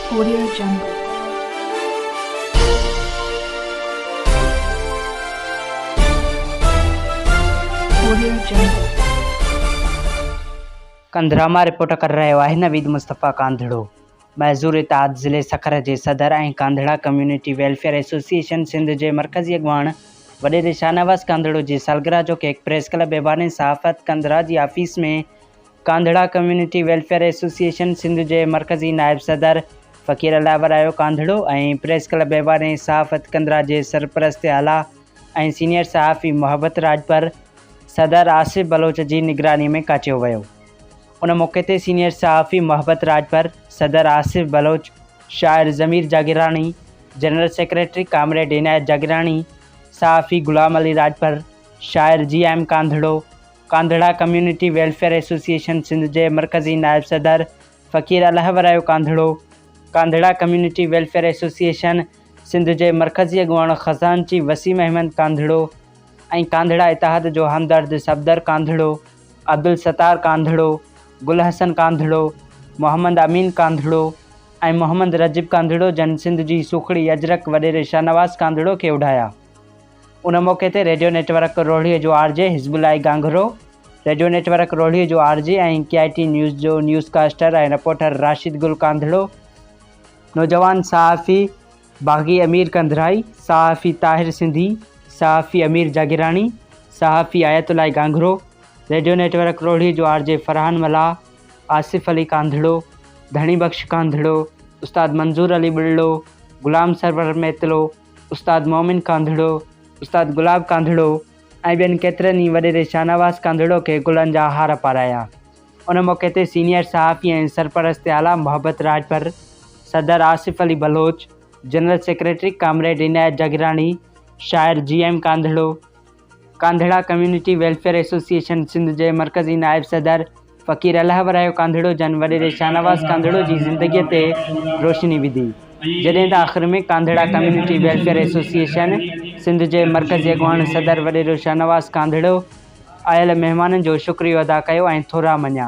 Korea جنگ، Korea جنگ. ڪنڌرامه، رپورٽ ڪري رهيو آهي نويد مصطفيٰ ڪانڌڙو. معذور اتحاد ضلعي سکر جي صدر ۽ Kandhra community welfare association Sindh جي مرڪزي اڳواڻ وڏيري شاهنواز ڪانڌڙو جي سالگرهه جو ڪيڪ پريس ڪلب ايوان صحافت ڪنڌرا جي office ۾ Kandhra community welfare association Sindh جي مرڪزي نائب صدر فقير الله ورايو ڪانڌڙو ۽ پريس ڪلب ايواني صحافت ڪنڌرا جي سرپرست اعليٰ ۽ سينيئر صحافي محبت راڄپر، صدر آصف بلوچ جي نگراني ۾ ڪاچيو ويو. ان موقعي تي سينيئر صحافي محبت راڄپر، صدر آصف بلوچ، شاعر Zameer Jagirani, general secretary comrade Inayat Jagirani, صحافي غلام علي راڄپر، شاعر G M Kandhro, Kandhra community welfare association Sindh جي مرڪزي نائب صدر Faqir Allah Warayo Kandhro, Kandhra community welfare association Sindh جي مرڪزي اڳواڻ خزانچي وسيم احمد ڪانڌڙو ۽ ڪانڌڙا اتحاد جو همدرد صفدر ڪانڌڙو، عبدالستار ڪانڌڙو، گل حسن ڪانڌڙو، محمد امين ڪانڌڙو ۽ محمد رجب ڪانڌڙو جن سنڌ جي سوکڙي اجرڪ وڏيري شاهنواز ڪانڌڙو کي اوڍايا. ان موقعي تي ريڊيو نيٽ ورڪ روهڙيء جو R J Hizbullah Ghanghro, radio network روهڙيء جو R J ۽ K I T news جو news caster ۽ reporter Rashid Gul Kandhro, نوجوان صحافي باغي امير ڪنڌرائي، صحافي طاهر سنڌي، صحافي امير جاگيراڻي، صحافي Ayatullah Ghanghro, radio network روهڙيء جو آر جي فرحان ملاح، آصف علي ڪانڌڙو، ڌڻي بخش ڪانڌڙو، استاد منظور علي ٻلڙو، غلام سرور ميتلو، استاد مومن ڪانڌڙو، استاد گلاب ڪانڌڙو ۽ ٻين ڪيترن ئي وڏيري شاهنواز ڪانڌڙو کي گلن جا هار پارايا. ان موقعي تي سينيئر صحافي ۽ سرپرست اعليٰ محبت راڄپر، صدر Asif Ali Baloch, general secretary comrade Inayat Jagirani, شاعر G M Kandhro, Kandhra community welfare association Sindh جي مرڪزي نائب صدر فقير الله ورايو ڪانڌڙو جن وڏيري شاهنواز ڪانڌڙو جي زندگيء تي روشني وڌي جڏهن ته آخر ۾ Kandhra community welfare association Sindh جي مرڪزي اڳواڻ صدر وڏيرو شاهنواز ڪانڌڙو آيل مهمانن جو شڪريو ادا ڪيو ۽ ٿورا مڃيا